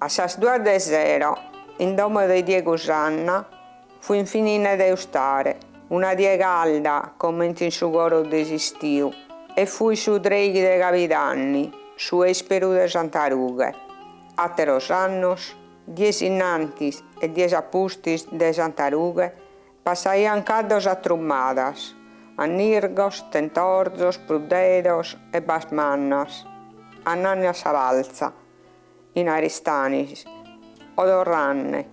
A sas duas de sero, in domo de Diego Sanna, fuint finine de ustare, una die calda comente in su coro de s'istiu, e fuit su treghi de Cabidanni, su esperu de Santa Rughe. Ateros annos, dies innantis e dies apustis de Santa Rughe, Passaiant caddos a trummadas, annirgos, tentorzos, pruddedos ebbas mannas, annanne a sa balza, in Aristanis, o torranne,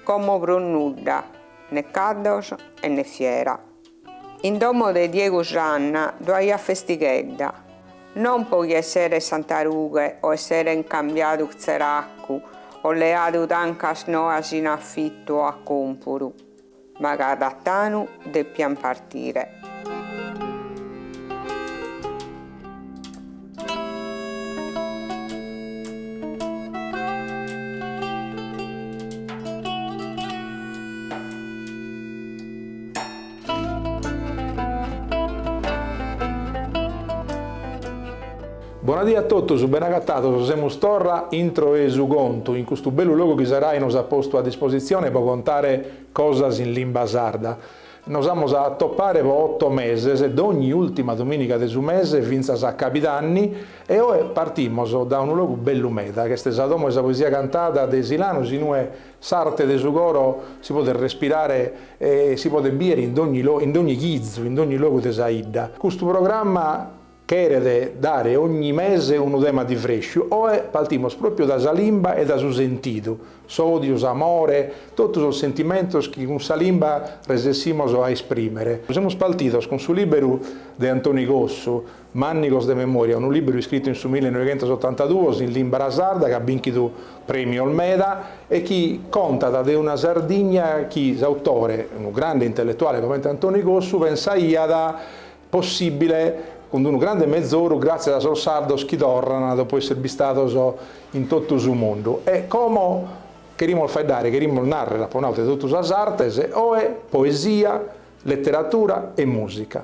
como prus nudda, ne caddos e ne fiera. In domo de Diegu Sanna ddoe aiat festighedda. Non po chi esseret Santa Rughe o esseret incambiadu tzeracu o leadu tancas noas in afitu o a còmpuru, ma ca Tatanu depiat partire. Bona die a totus, ben'agatados, semus torra intro 'e Su Contu, in custu bellu logu chi sa Rai nos at postu a dispositzione pro contare cosas in limba sarda. Nos amus a atopare pro oto meses, dogni ultima domìniga de su mese fintzas a cabidanni, e oe partimos dae unu logu bellu meda, ch'est sa Domo 'e sa Poesia Cantada de Silanus, inue S'arte de su coro si podet respirare e si podet bìere in dogni chizu, in dogni logu de sa 'idda. Custu programma cheret dare ogni mese unu tema diversu, oe partimos pròpiu dae sa limba e dae su sentidu, s'òdiu, s'amore, totu sos sentimentos chi cun sa limba resessimos a esprimere. Semus partidos cun su lìberu de Antoni Cossu, Mànnigos de memòria, unu lìberu iscritu in su millenoighentosotantaduos in lìmbara sarda chi at bìnchidu prèmios meda e chi contat de una Sardigna chi s'autore, unu grande intelletuale comente Antoni Cossu, pensaiat possìbile cun unu grande mezoru gràtzias a sos sardos chi torrant dopu èssere bistados in totu su mundu. E como cherimus faeddare, cherimus nàrrere, apo nadu, de totu sas artes, oe poesia, leteratura e mùsica.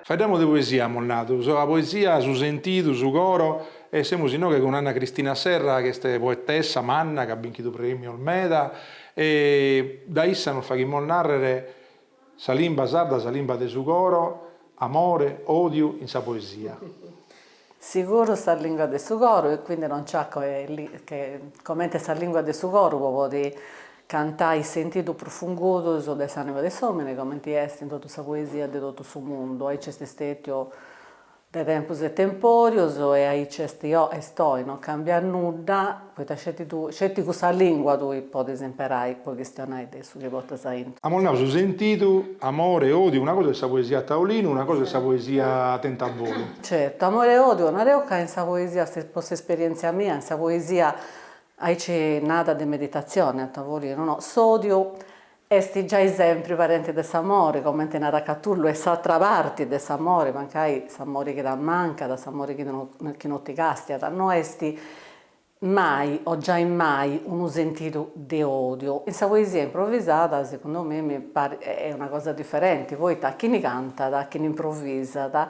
Faeddamus de poesia, amus nadu, sa poesia, su sentidu, su coro, e semus inoghe cun Anna Cristina Serra, chi est poetessa manna, chi at binchidu prèmios meda, e dae issa nos faghimus nàrrere sa limba sarda, sa limba de su coro, amore, odiu in sa poesia. Siguru sa lìngua de su coru e quindi non c'at che comenti sa lìngua de su coru po podi cantai is sentidus prus fungudus de s'anima de s'omini comenti est in totu sa poesia de totu su mundu aici est stètiu de tempus e temporius e aici est oi non cambiat nudda Poita sceti tui, sceti cussa lìngua tui podis imperai po chistionai de su chi portas aintru. Amus nau su sentidu, amore e odiu, una cosa est sa poesia a taolinu, una cosa est sa poesia in taulu. Certu, amore e odiu, nara deu ca in sa poesia, po s'esperièntzia mia, in sa poesia aici nada de meditatzioni a tavolinu, no, s'odiu Est giai sempri parenti de s'amori, comenti narat Catullu, est s'atra parti de s'amori, mancai s'amori chi t'ammancat, s'amori chi no ti castiat, no est mai o giai mai unu sentidu de odiu. In sa poesia improvisada, segundu me, mi parit, est una cosa diferenti, poita chini cantat, chini improvisat,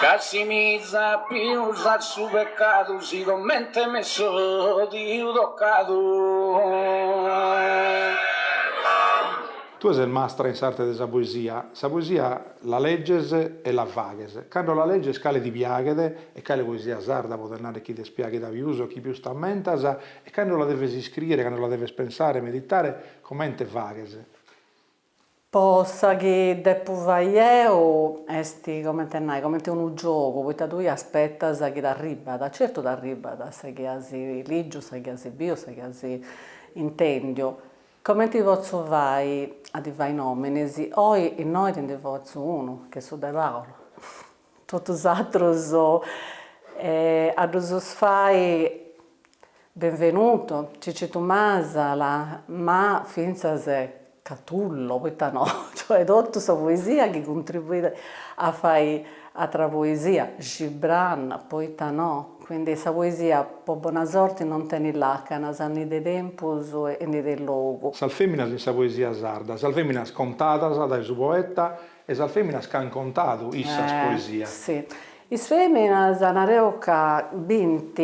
Ca si misapius a su pecadu si comente m'est tocadu. Tue ses mastra in s'arte de sa poesia, sa poesia la leges e la faghes, cando la leges cale ti piaghet e cale poesia sarda podes narrer chi t'est piaghida pius o chi pius t'ammentas e cando la deves iscriere, cando la deves pensare, meditare, comente faghes? Po sa chi depu fai deu est, comenti a nai, comenti unu giogu, poita tui aspetas chi t'arribat, certu t'arribat sa chi as ligiu, sa chi as biu, sa chi as intendiu, comenti potzu fai a ti fai nominis, oi innoi ti ndi fatzu unu, chi est su de Paulu. Totus is atrus a ddus fai, Benvenuto, Cicitu Masala, ma fintzas Catullo, poita no, cioè totu sa poesia chi cuntribuit a fai atra poesia, Gibran, poita no, quindi sa poesia po bona sorti non tenit lacanas, ni de tempus e ni de logu. Sas feminas in sa poesia sarda, sas feminas contadas dai su poeta E sas feminas ch'an contadu issas poesia. Si. Is feminas nara deu ca bint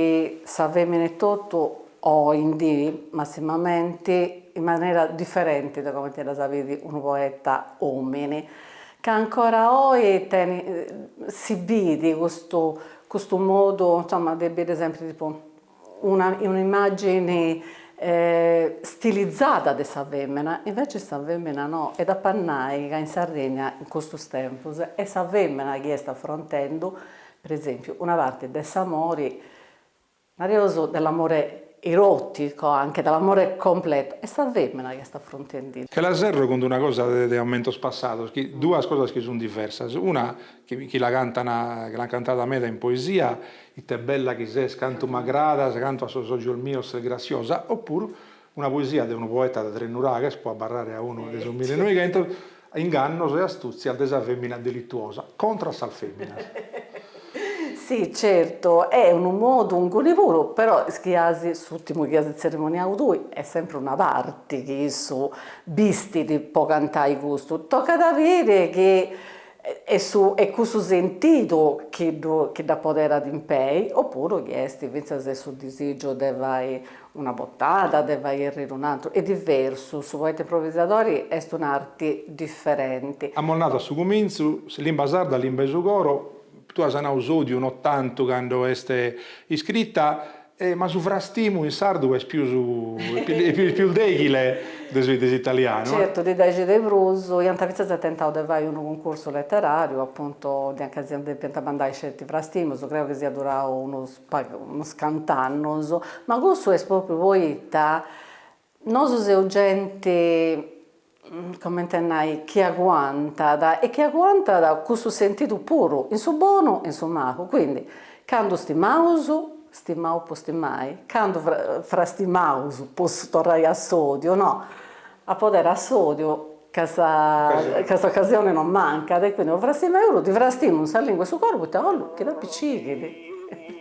sa femina etotu oindi massimamenti in manera differenti de comenti ddas bit unu poeta omini ca ancora oi tenint si bit custu custu modu insomma de biri sempri tipu una immàgini stilizada de sa fèmena, invece sa fèmena no, e d'ap'a nai ca in Sardigna in custus tempus est sa fèmena chi est afrontendu, per esempio, una parte de s'amori, nareus dell'amore erotico anche, dell'amore completo, est sa fèmena chi est afrontendidda. Che la serro cun d'una cosa de ammentos passados chi duas cosas chi sun diversas, una chi la cantan, chi l'an cantada meda in poesia, Ite bella chi ses, cantu m'agradas, cantu a sos ogios mios ses grassiosa, o puru una poesia de unu poeta de Tresnuraghes, pro abarrare a unu de su milenoghentos, Ingannos e astùtzias de sa fèmina delituosa, contra a sas fèminas. Si, certu, est unu modu, inguni puru, però is chi as, s'ùrtimu chi as tzerimoniadu tui, est sempri una parti chi issu bestit pro cantai custu, tocat a biri chi e su e cussu sentidu chi dda poderat impei, oppuru chi est fintzas e su disìgiu de fai una batuda, de fai erriri un'antru, est diversu, su poeta improvisadori est un'arti diferenti. Amus nadu a su cumintzu, limba sarda, limba 'e su coro, tue as nadu s'òdiu no tantu cando est iscrita, E ma su frastimu in sardu est pius est pius deghile de su de s'italianu, eh. Certu, ddi dexi de prus, iant fintzas tentau de fai unu cuncursu leterariu, apuntu, dd'iant ca si depiant mandai sceti frastimus, creu chi siat durau unus unus cant'annus, ma cussu est propriu poita nosu seus genti comente a nai, chi aguantat, e chi aguantat cussu sentidu puru, in su bonu e in su malu, quindi, candu stimaus, stimau po stimai, candu frastimaus po torrai a s'odiu, no, a podere a s'odiu ca sa ca s'ocasione non mancat, e quindi no frastimaus puru, ti frastimu in sa lingua 'e su coru poita 'ollu chi ddi picighit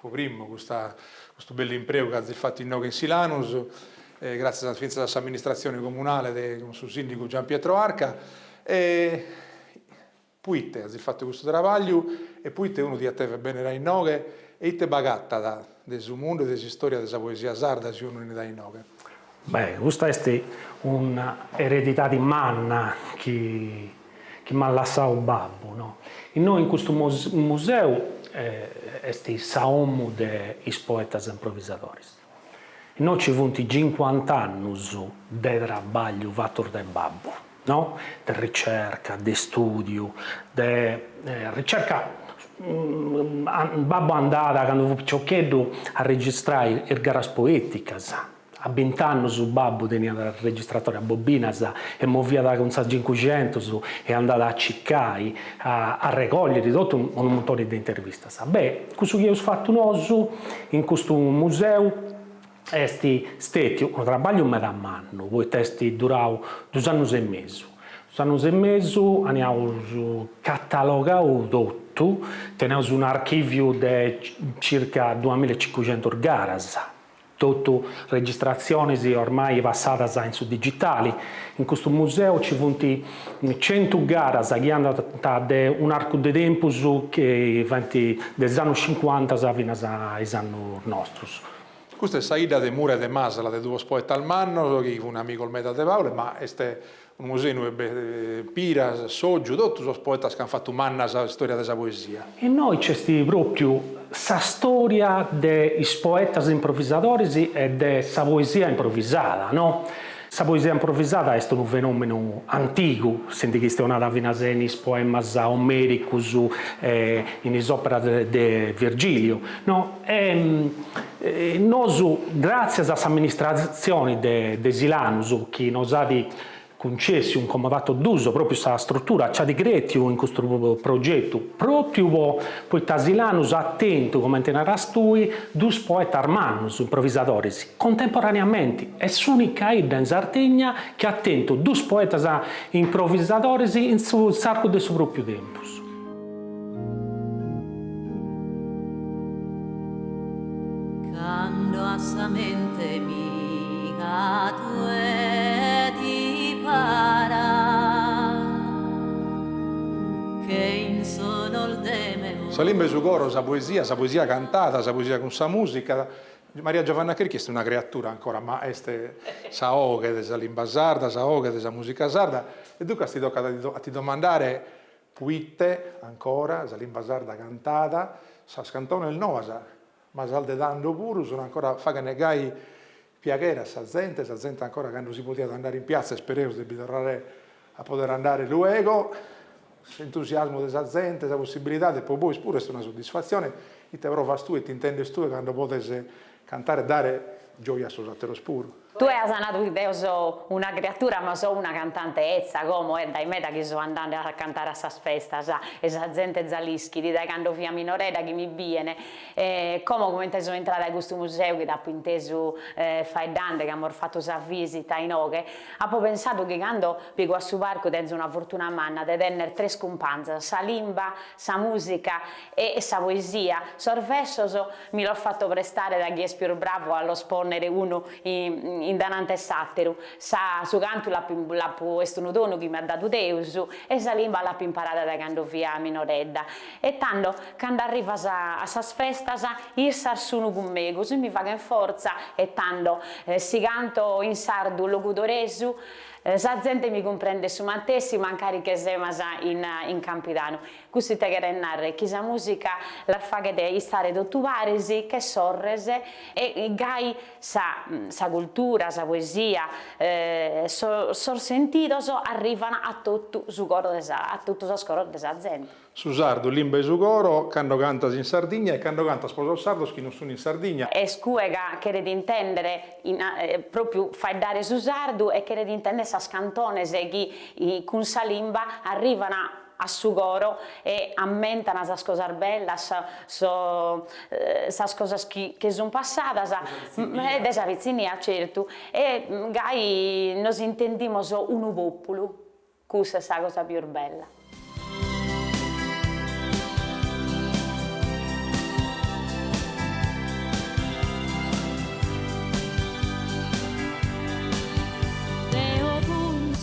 Pro primu custa custu bellu impreu ch'azis fatu inoghe in Silanus e gràtzias fintzas a s'amministratzione comunale de cun su sìndigu Gian Pietro Arca e poite azis fatu custu trabagliu e poite unu diat dever benner a inoghe e ite b'agatat de su mundu e de s'istoria de sa poesia sarda si unu 'enit a inoghe. Beh, custa est una eredidadi manna chi. chi m'at lassadu babbu, no. Innoi in custu museu est sa omu de is poetas improvisadoris. Innoi ci funt cincuant'annus de trabagliu fatus de babbu, no, de ricerca, de studiu, de ricerca, babbu andàt candu fut piciocheddu a registrai is garas poeticas, A bint'annus babbu teniat registratori a bobinas e moviat cun sa Cincuxentus e andàt a cicai a arregògliri totu unu muntoni de intervistas. Beh, cussu chi eus fatu nosu in custu museu est stètiu unu trabagliu meda mannu poita est durau duus annus e mesu. Duus annus e mesu anca eus catalogau totu, teneus un'archìviu de circa duamilla e cincuxentos garas. Totu registratzionis ormai passadas in su digitali. In custu museu ci funt centu garas chi andant de un'arcu de tempus chi bandat de is annus cincuantas finas a is annus nostus. Custa est sa idda de Mura e de Masala de duos poetas mannos chi funt amigos meda de Paule, ma est Unu museu de Piras, Sozu, totu sos poetas chi ant fatu manna sa istòria de sa poesia. Innoi nc'est pròpiu sa stòria de is poetas improvisadoris e de sa poesia improvisada, no? Sa poesia improvisada est unu fenòmenu antigu, si ndi chistionat finas in is poemas omericus e in is òperas de Virgiliu, no? E nosu, gràtzias a s'amministratzioni de Silanus chi nos at cuncessu in comodato d'uso pròpiu sa strutura, nci at crètiu in custu progetu, pròpiu po poita Silanus at tentu, comente naras tui, duus poetas mannus, improvisadoris, contemporaneamenti, est s'ùnica 'idda in Sardigna chi at tentu duus poetas improvisadoris in s'arcu de su pròpiu tempus. Cando a sa mente mia tue ti parat che in sonos de meu. Sa limba 'e su coro, sa poesia, sa poesia cantada, sa poesia cun sa musica. Maria Giovanna Cherchi est una creatura ancora, ma est sa 'oghe de sa limba sarda, sa 'oghe de sa musica sarda e duncas ti tocat a ti domandare Puite, ancora, sa limba sarda cantada, sas cantones noas, ma sas de tando puru, sun ancora faghende gai piaghere a sa zente, sa zente ancora cando si podiat andare in piazza, isperemus de bi torrare a podere andare luego, s'entusiasmu de sa zente, sa possibilidade, po bois puru est una suddisfatzione, ite provas tue, ite intendes tue cando podes Cantare e dare gioja a sos atteros puru. Tue as nadu chi deo so una creatura ma so una cantante etza como est dae meda chi so andende a cantare a sas festas e sa zente za l'ischit dae cando fia minoredda chi mi bien como comente so intrada a custu museu chi t'apo intesu faeddande chi amos fattu sa visita inoghe apo pensadu chi cando pigo a su parcu tenzo una fortuna manna de tenner tres cumpanzas sa limba sa musica E sa poesia, sos versos mi los fatto prestare da chi est pius bravu a los ponnere unu in danante s'atteru. Sa su cantu l'appo l'appo est unu donu chi m'at dadu Deus e sa limba l'appo imparada da cando fia minoredda. E tando cando arrivo a sas festas issas sunu cun megus e mi faghen forza e tando si canto in sardu logudoresu sa zente mi cumprendet su mantessi mancari che semus in campidanu. Custu ite cheret narrer chi sa musica las faghet istare totu paris che sorres e gai sa sa cultura, sa poesia, sos sentidos arrivan a totu su coro de sa a totu sos coros de sa zente. Su sardu limba 'e su coro cando cantas in Sardigna e cando cantas pro sos sardos chi non sun in Sardigna. Est cue ca cheret intender propriu faeddare su sardu e cheret intender sas cantones chi cun sa limba arrivan a su coro e ammentan sas cosas bellas, sas cosas chi che sun passadas, de sa pitzinnia certu, e gai nos intendimos unu populu, custa est sa cosa pius bella.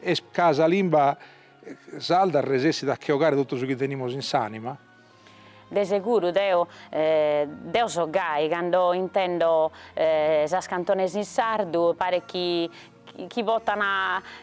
Est ca sa limba sarda resessit a che 'ogare totu su chi tenimus in s'ànima. De seguru deo deo so gai cando intendo sas cantones in sardu, paret chi chi potan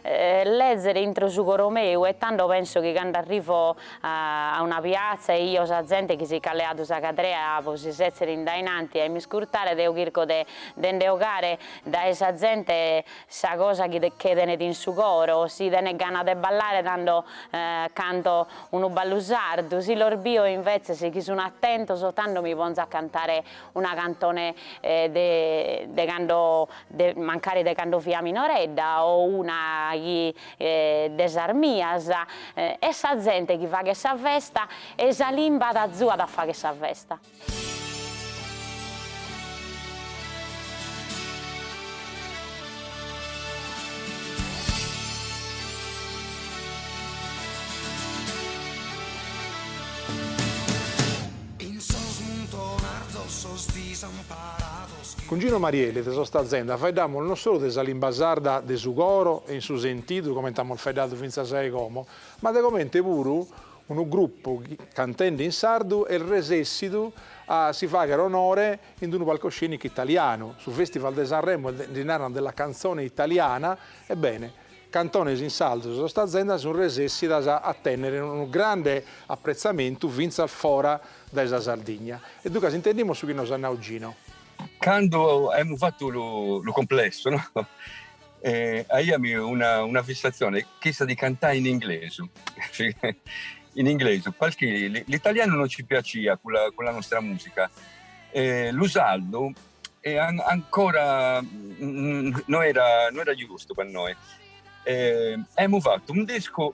lèzere intro su coro meu e tando penso chi cando arrivo a una piatza e 'io sa zente chi si ch'at leadu sa cadrea pro si sèzere in dainanti a mi iscurtare deo chirco de nde 'ogare dae sa zente Sa cosa chi tenet in su coro, si tenet gana de ballare tando canto unu ballu sardu, si los bio invetzes chi sun atentos tando mi ponzo a cantare una cantone de de cando de mancari de cando fia minoredda o una chi de sas mias est sa zente chi faghet sa festa e sa limba azuat a fagher sa festa. Cun Gino Marielli de sos Tazenda faeddamus non solu de sa limba sarda de su coro e in su sentidu comente amus faeddadu fintzas a e como, ma de comente puru Unu grupu, cantende in sardu, est resessidu a si fagher onore in d-unu palcoscenicu italianu, su Festival de Sanremo nde naran della canzone italiana, ebbene, cantones in sardu sos Tazenda sun resessidos a tènnere unu grande appretzamentu fintzas fora dae sa Sardigna. E duncas intendimus su chi nos at nau Gino. Cando aimus fatu lu complesso, no? E aiami una, una fissatzione, chissa di cantai in inglesu, in inglesu, parchi l'italianu no ci piacia cun la, cun la nostra musica, e lu saldu e ancora no era, no era giustu pa noi. E aimu fattu un discu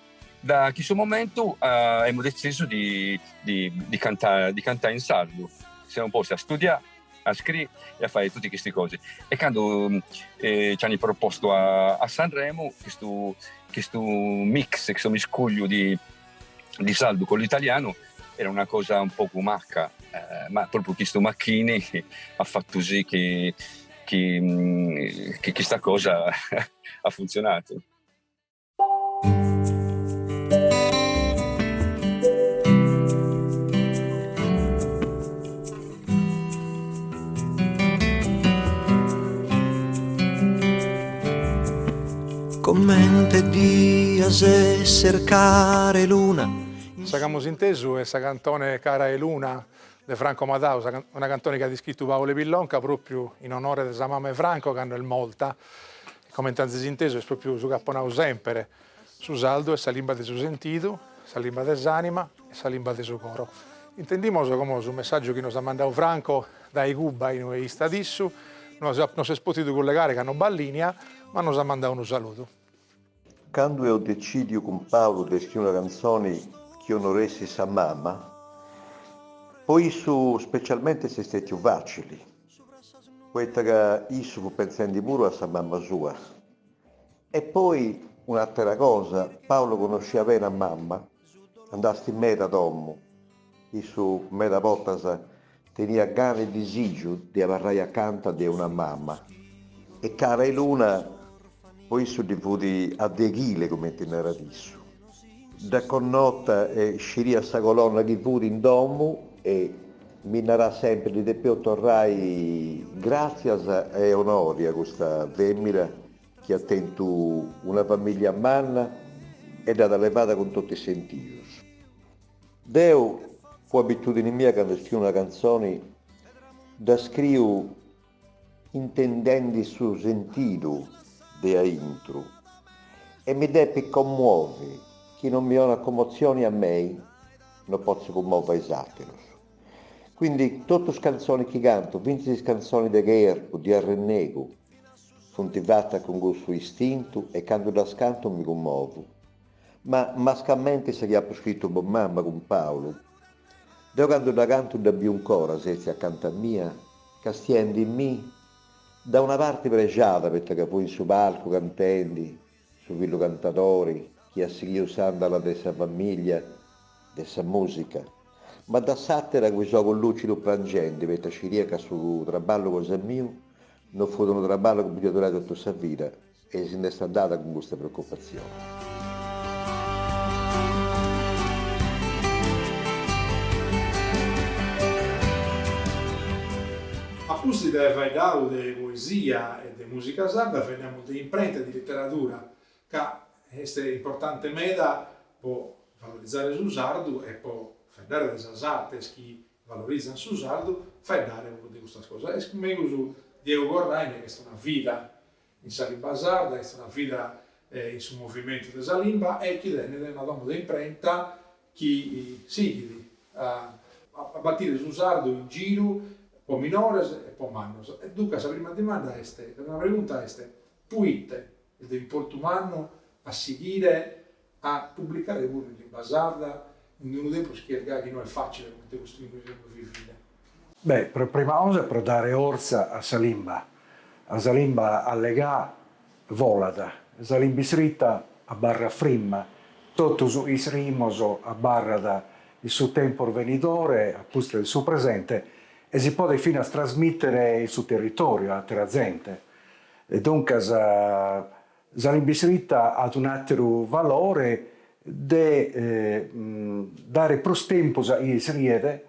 Da chistu momentu emu dezisu di di cantà, di cantà in sardu. Semu posti a studià, a scrì e a fai tutti chisti cosi. E candu ci ani propostu a Sanremo chistu chistu mix, chistu miscugliu di di sardu cu l'italianu era una cosa un pocu macca, ma propriu chistu macchini ha fattu sì chi chi chista cosa ha funzionatu. Comente dias esser cara 'e luna. Sa ch'amus intesu est sa cantone Cara 'e luna de Franco Madau, una cantone chi at iscritu Paule Pillonca propriu in onore de sa mama 'e Franco cando est morta. Comente azis intesu est propriu su chi apo nau semper, su sardu est sa limba de su sentidu, sa limba de s'anima e sa limba de su coro. Intendimos como su messaggiu chi nos at mandau Franco dae Cuba in ue istat issu, no s'est potidu collegare ca no b'at linea, ma nos at mandau unu saludu. Candu eus decidiu cun Paolo de scriri una canzoni chi onoressit sa mama, po issu specialmente est stetiu facili. poita ca issu fut pentzendi puru a sa mama sua. E poi un'atera cosa, Paolo connosciat beni a mama, andastis meda a domu, issu meda bortas teniat gana e disìgiu de abarrai acanta de una mama, e Cara 'e luna po issu ddi fut a deghile cumenti narat issu. Dd'at connota e sciriat sa colonna chi fut in domu e mi narat sempri ddi depeus torrai gràtzias e onori a custa fèmina chi at tentu una famìllia manna e dd'at levada cun totu is sentius. Deu, po abitùdini mia candu scriu una cantzoni dda scriu intendendi su sentidu de aintru, e mi depit commuovi, chi non mi 'onat commotzioni a mei, no potzu cummovi a is àterus. Quindi totu is cantzoni chi cantu, fintzis is cantzoni de cherpu, de arrennegu, funt fatas cun custu istintu e candu ddas cantu mi cummovu. Ma mascamenti sa chi apu scritu po mama cun Paulu, Deu candu dda cantu dda biu 'ncora setzia acanta mia, castiendimì, da una parti prexada poita ca fui in su palcu cantendi, su fillu cantadori chi at sighiu s'andala de sa famiglia de sa musica, ma da s'atera cun is ogus lucidus prangendi poita sciria ca su traballu cosa miu no fut unu traballu chi podia durai totu sa vida, E si nd'est andada cun custa preoccupatzione. A pustis de faeddadu de poesia e de mùsica sarda faeddamus de imprenta e de literadura ca est importante meda po valorizare su sardu e po faeddare de sas artes chi valorizant su sardu, faeddare puru de custas cosas. Est megus Diego Corraine chi est una vida In sa limba sarda est una fida in su movimentu de sa limba e chi tenet una domu de imprenta chi sighit a batire su sardu in giru po minores e po mannos. E duncas sa prima dimanda est, sa prima pregunta est, Puite est de importu mannu a sighire a publicare puru in limba sarda in unu tempus chi est gai chi no est fàcile cumenti custu in cui semus vivinde. Beh, pro prima cosa pro dare ortza a sa limba, a sa limba allegà volat, sa limba isritta abarrat frimma, totu su isrimos abarrat in su tempus venidore a pustis de su presente e si podet finas trasmìtere in su territòriu a àtera zente. Duncas, Sa limba isritta at un'àteru valore de dare prus tempus a chie iscriet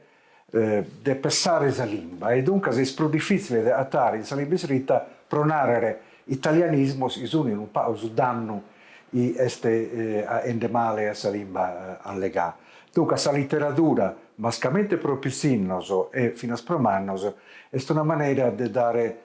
de pessare sa limba e duncas est prus difìtzile de agatare in sa limba isritta, pro nàrrere, italianismos, chi sunt unu pagu su dannu chi est aghende male a sa limba allegà. Duncas sa literadura, mascamente pro pitzinnos e finas pro mannos, est una manera de dare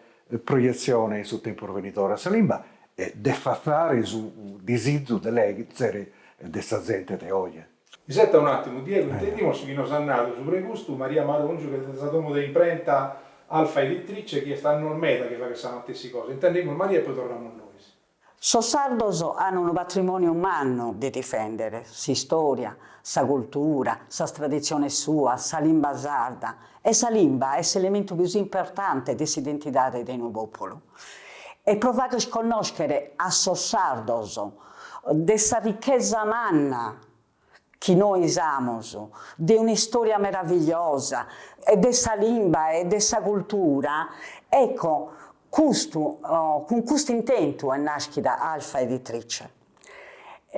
proietzione in su tempus venidore a sa limba e de artzare su disizu de lèzere de sa zente de oje. Iseta un'àtimu, Diego, intendimus su chi nos at nadu subra custu Maria Maròngiu chi est de sa domu de imprenta Alfa Editrice chi est annos meda chi faghet sa matessi cosa, intendimus Maria e poi torramus nois. Sos sardos an unu patrimòniu mannu de difèndere, s'istòria, sa cultura, sas traditziones suas, sa limba sarda. E sa limba est s'elementu pius importante de s'identidade de unu pòpulu. E pro fagher connòschere a sos sardos de sa richesa manna chi nois amus de un'istoria meravigliosa e de sa limba e de sa cultura, ecco custu cun custu intentu est naschida Alfa Editrice.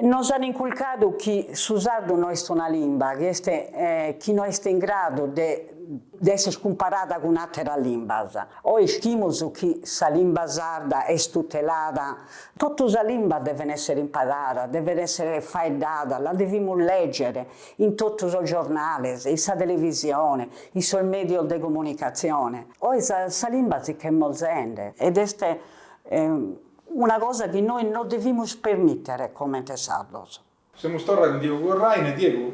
Nos an inculcadu chi su sardu no est una limba, chi est chi no est in gradu de de esser cumparada cun ateras limbas. Oe ischimus chi sa limba sarda est tutelada Totu sa limba devet èssere imparada, devet èssere faeddada, la devimus lègere in totu sos giornales, in sa televisione, in sos mèdios de comunicatzione. Oe sa sa limba si ch'est morzende ed est una cosa chi nois non devimus permìtere comente sardos. Semus torra cun Diego Corràine, Diegu,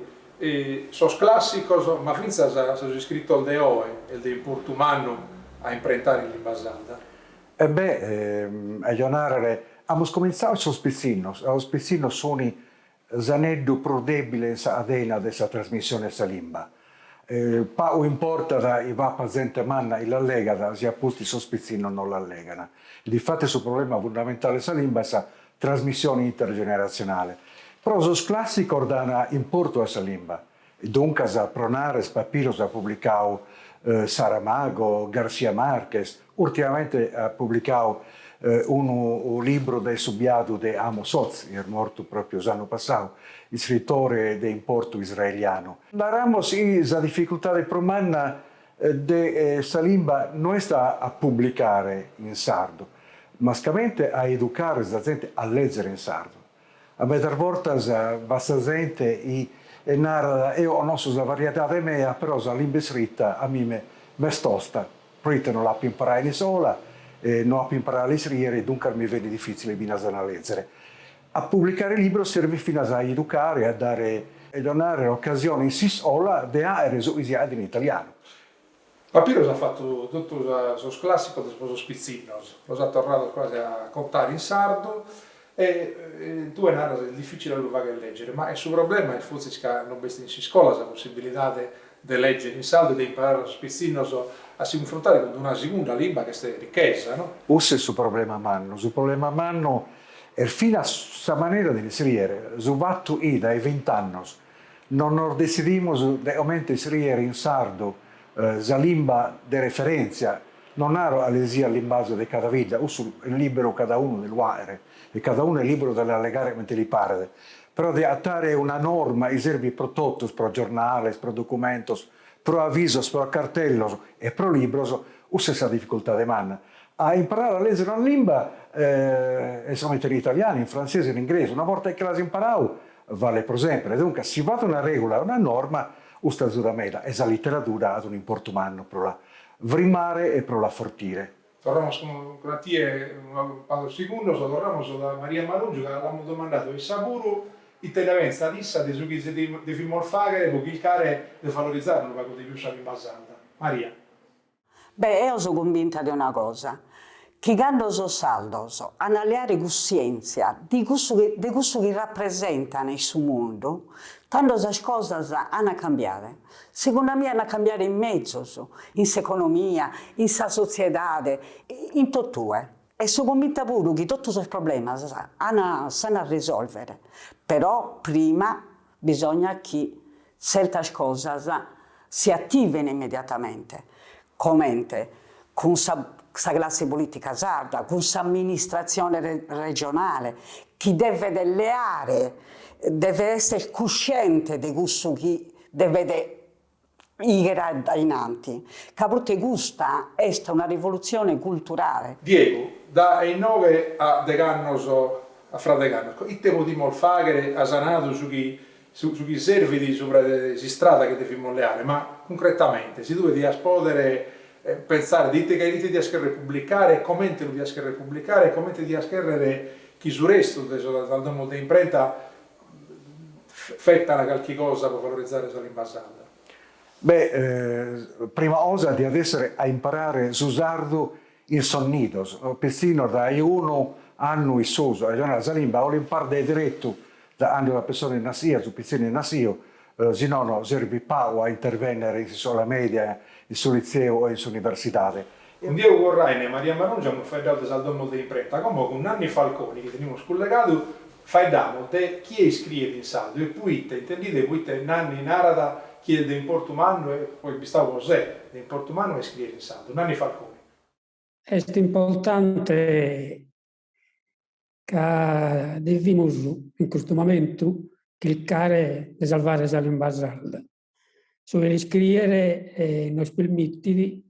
sos classicos, ma fintzas sos iscritos de oe est de importu mannu a imprentare in limba sarda. E be', aio a nàrrere, amus comintzadu a sos pitzinnos, e sos pitzinnos suni s'aneddu prus debile in sa cadena de sa trasmissione 'e sa limba. Pagu importat chi b'apat zente manna chi las legat, si a pustis sos pitzinnos non las legana. Difatis su problema fundamentale 'e sa limba est sa Trasmissione intergeneratzionale. Pro sos clàssicos dan importu a sa limba. Duncas, pro nàrrere, Papiros at publicadu Saramago, García Márquez, ùrtimamente at publicadu unu libru de su biadu de Amos Oz, chi est mortu pròpiu s'annu passadu, iscritore de importu israelianu. Naramos chi sa dificultade prus manna de sa limba no est a publicare in sardu, mascamente a educare sa zente a lèzere in sardu. A medas bortas b'at sa zente chi narat, eo connosco sa variedade mea, però sa limba iscrita a mime m'est tosta, proite no l'apo imparada in iscola, no apo imparada a l'iscriere, duncas mi benit difìtzile finas a la lèzere. A publicare libros servit finas a educare, a dare e donare ocasione in s'iscola de àere su chi si ch'at in italianu. Papiros at fatu totu sos clàssicos de pro sos pitzinnos, los at torrados quasi a contare in sardu e tue naras est dificile a lu fagher lègere, ma su problema est fortzis ca non b'est in s'iscola sa possibilidade de lègere in sardu e de imparare a sos pitzinnos a si cunfrontare cun una segunda limba chi est richesa, no? Custu est su problema mannu. Su problema mannu est finas sa manera de l'iscriere, su fatu chi dae vint'annos non nos detzidimos de comente iscriere in sardu sa limba de referèntzia, non naro a lèzere su limbazu de cada bidda, cussu est liberu cadaunu de lu fàghere e cadaunu est liberu de l'allegare comente li paret, Però de adatare una norma chi serbit pro totus, pro giornales, pro documentos, pro avisos, pro cartellos e pro libros, cussa est sa dificultade manna. A imparare a lèzere una limba comente in italianu, in frantzesu e in ingresu, una borta chi l'as imparadu, balet pro semper. Duncas, si b'at una règula e una norma, custa azudat meda e sa literadura at un'importu mannu pro la frimare e pro l'afortire. Torramus cun a tie tra pagos segundos, torramus dae Maria Marungiu ca li amus domandadu a issa puru ite nde pentzat issa de su chi devimus fàghere pro chircare de valorizare unu pagu de pius sa limba sarda. Maria. Beh, eo so cumbinta de una cosa, chi cando sos sardos an a leare cussièntzia de cussu de cussu chi rapresentant in su mundu, tando sas cosas ant a cambiare. Segundu a mie an'a cambiare in mezus, in s'economia, in sa sotziedade, in totue. E so cumbinta puru chi totu sos problemas an a s'an a risolvere, però prima bisognat chi tzertas cosas si ativene immediatamente, comente cun sa sa classe politica sarda, cun s'amministratzione regionale, chi devet leare, devet esser cusciente de cussu chi devet gigher addainanti, ca proite custa est una rivolutzione culturale. Diegu, Dae inoghe a deghe annos, fra degh'annos, ite podimus fàghere as nadu su chi su chi servit subra de s'istrada chi devimus leare, ma cuncretamente, si tue dias pòdere pentzare de ite ite dias cherrer publicare e comente lu dias cherrer publicare e comente dias cherrer chi su restu de sas domos de imprenta fetana calchi cosa pro valorizare sa limba sarda. Beh, prima cosa diat essere a imparare su sardu in sos nidos, pitzinnos dae unu annu in susu, arrejonare sa limba o l'imparas deretu da cando sa pessone est nassia, su pitzinu est nassiu, si nono serbit pagu a intervennere in s'iscola media, in su litzeu o in s'universidade. Cun Diego Corraine e Maria Marungiu amus faeddadu de sas domos de imprenta, como cun Nanni Falconi, chi tenimus cullegadu Faeddamos de chie iscriet in sardu e poite, intendide proite Nanni narat chi est de importu mannu e po isse istadu, po se, de importu mannu a iscriere in sardu. Nanni Falconi. Est importante ca devimus in custu momentu chircare de salvare sa limba sarda. Su de l'iscriere nos permitit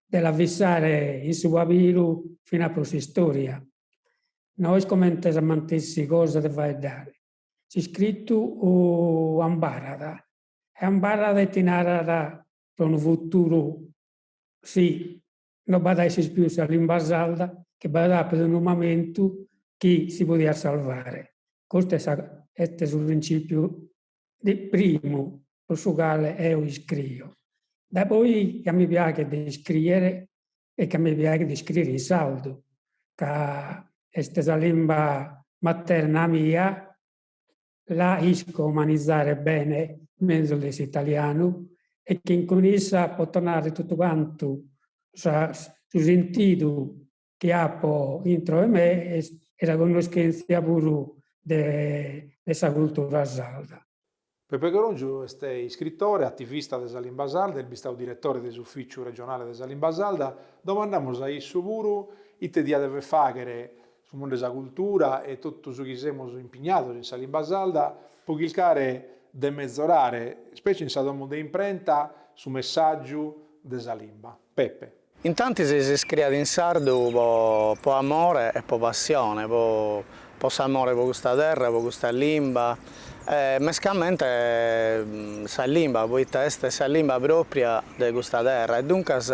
de la fissare in su pabiru finas pro s'istoria. No est comente sa mantessi cosa de faeddare, s'iscritu ambarrat e ambarrat e ti narat pro unu futuru si no b'at a esser pius sa limba sarda chi b'at appidu unu mamentu chi si podiat salvare. Custu est su principiu primu pro su cale eo iscrio, dae poi ca mi piaghet de iscrìere e chi mi piaghet de iscrìere in sardu, chi est sa limba materna mia, la isco manizare bene mezus de s'italianu e chi cun issa poto narrer totu cantu su sentidu chi apo intro 'e me e sa connoschèntzia puru de sa cultura sarda. Pepe Coròngiu est iscritore, ativista de sa limba sarda, est bistadu diretore de s'Ufìciu regionale de sa limba sarda. Domandamus a issu puru ite diat dever fàghere su mundu de sa cultura e totus sos chi semus impignados in sa limba sarda pro chircare de metzorare, specie in sa domu de imprenta, su messàgiu de sa limba. Pepe. Intantis s'iscriet in sardu po po amore e po passione, po po s'amore po custa terra, po custa limba e mescamente sa limba poita est sa limba propria de custa terra e duncas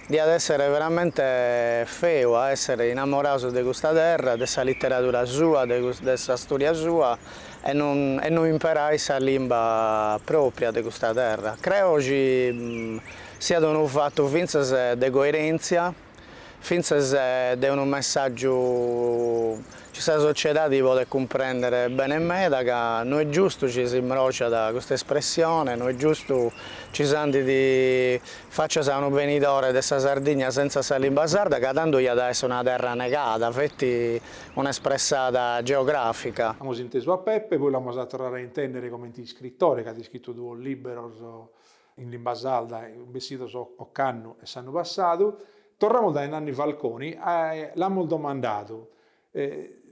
diat essere veramente feu a essere inamorados de custa terra, de sa litteradura sua, de de sa storia sua e non e non imperai sa limba propria de custa terra. Creo chi Siat unu fatu fintzas de coerèntzia, fintzas de unu messàgiu chi sa sociedadi podet cumprèndere bene meda ca no est giustu chi s'imbròciat custa espressione, no est giustu chi s'andit fàcias a unu benidore de sa Sardigna sentza sa limba sarda ca tando iat a èssere una terra negada, feti una espressada geogràfica. Amus intesu a Peppe, poi l'amus a torrare a intèndere comente iscritore chi at iscritu duos lìberos in limba sarda bessidos ocannu e s'annu passadu, torramus dae Nanni Falconi, l'amus domandadu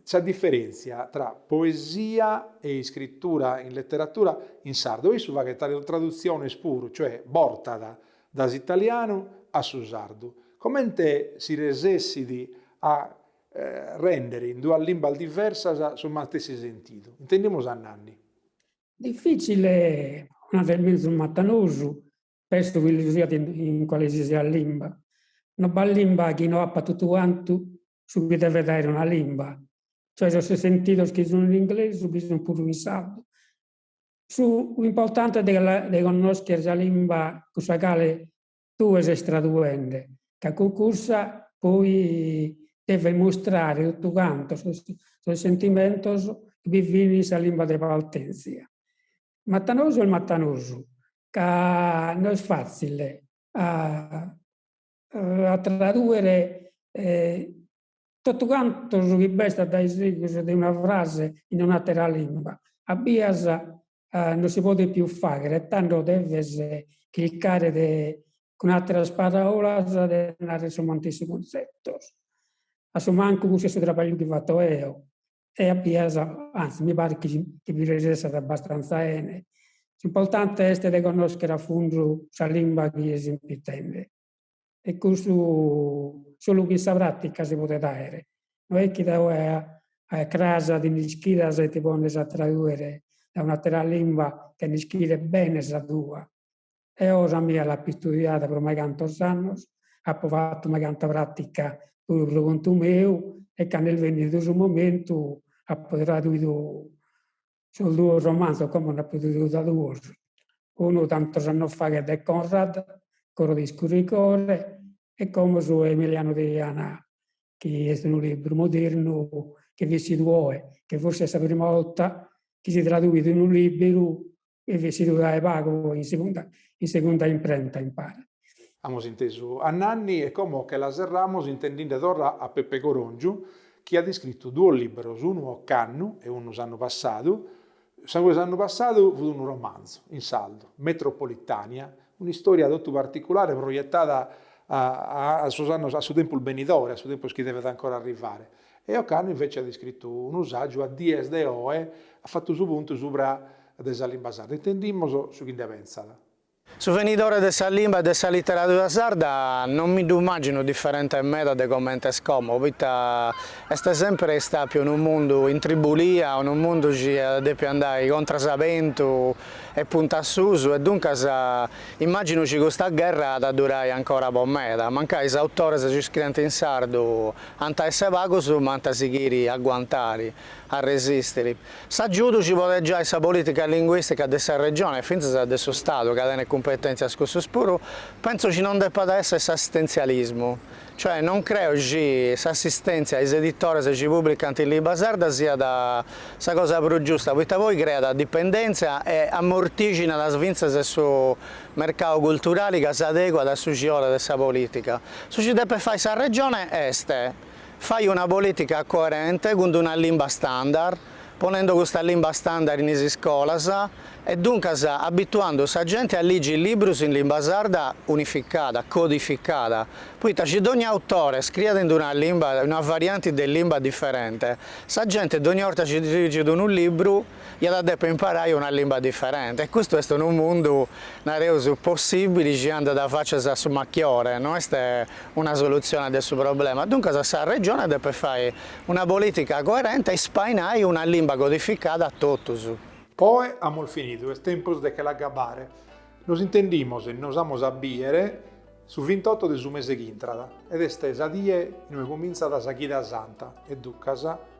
sa diferèntzia tra poesia e iscritura in leteratura in sardu e issu faghet tradutziones puru, cioè bortat dae s'italianu a su sardu, comente si resessit a rèndere in duas limbas diversas su matessi sentidu. Intendimus a Nanni. Difìtzile, o nende mezus matanosu, pesso chi lu siat in cualesisiat limba. No b'at limba chi no apat totu cantu su chi devet aer una limba, cioè sos sentidos chi sun in inglesu bi sun puru in sardu. S'importante est de connoscher sa limba cun sa cale tue ses traduende, ca cun cussa poi deves mustrare totu cantu sos sentimentos chi bi fin in sa limba de partentzia. Matanosu est matanosu, ca no est fàtzile a tradùere Totu cantu su chi b'est addaisegus de una frase in un'àtera lìngua. A bias non si podit pius fàghere, tando deves chircare de, cun àteras paràulas, de narrer sos mantessi cunzetos. A su mancu cussu est su trabagliu chi fato eo e a bias, antzis, mi parit chi chi bi resessat abbastanza 'ene. S'importante est de connoschere a fundu sa limba chi ses impittende. e custu solu chin sa pràtica si podet àere, no est chi dae oe a cras ti nd'ischidas e ti pones a tradùere dae un'àtera limba chena ischire bene sa tua. Eo sa mia l'apo istudiada pro maigantos annos, apo fatu maiganta pràtica puru pro contu meu e cando est bennidu su momentu apo traduidu Sos duos romanzos, como nd'apo traduidu duos, unu tantos annos faghet de Conrad, Coro de iscurigore, e como su 'e Emiliano Deiana, chi est unu libru modernu chi fit essidu oe, che forsis est sa prima 'olta chi si traduit unu liberu chi fit essidu dae pagu in segunda in segunda imprenta, mi paret. Amus intesu a Nanni e como che la serramus intendinde torra a Peppe Corongiu chi at iscritu duos liberos unu ocannu e unu s'annu passadu, su 'e s'annu passadu fut unu romanzu, in sardu, Metropolitania, un'istoria totu particulare proiettada a a sos annos a su tempus benidore, a su tempus chi devet ancora arrivare. E ocannu invece at iscritu unu sagiu A dies de oe at fattu su puntu subra de sa limba sarda. Intendimus su chi nde pensat. Su venidore de sa limba e de sa literadura sarda non mi ddu immàgino diferente meda de comente est como, poita est semper istàpiu unu mundu in tribulia, unu mundu chi at depiu andai contras a bentu e punta a susu, e duncas immàgino chi custa gherra at a durai ancora po meda, mancai is autores chi scrient in sardu ant a esser pagos ma ant a sighiri a aguantari, a resistir. S'agiudu chi podet giai sa polìtica linguìstica de sa Regione e fintzas de su Stadu ca tenet cumpetèntzias cussus puru, pentzo chi non depat èssere s'assistentzialismu, cioè non creo chi s'assistèntzia a is editores chi pùbricant in limba sarda siat sa cosa prus giusta, poita poi creat dipendèntzia e amortìginat fintzas su mercadu culturali ca s'adeguat a su chi 'olet sa polìtica. Su chi depet fai sa Regione est Fai una polìtica coerente cun d'una limba standard, ponendo custa limba standard in is iscolas e duncas abituando sa genti a ligi librus in limba sarda unificada, codificada, poita chi dogni autore scriat in d'una limba, in una varianti de limba diferente, sa genti dogni 'orta chi ligit unu libru, iat a deper imparai una limba diferente e custu est unu mundu, nareus, possibili chi andat facias a su machiore, no est una solutzione de su problema, duncas sa Regione depet fai una politica coerente e ispainai una limba codificada a totus. Poi amus finidu, est tempus de che l'agabbare, nos intendimos e nos amus a bidere su vintotto de su mese ch'intrat ed est sa die inue cumintzat sa chida santa e duncas,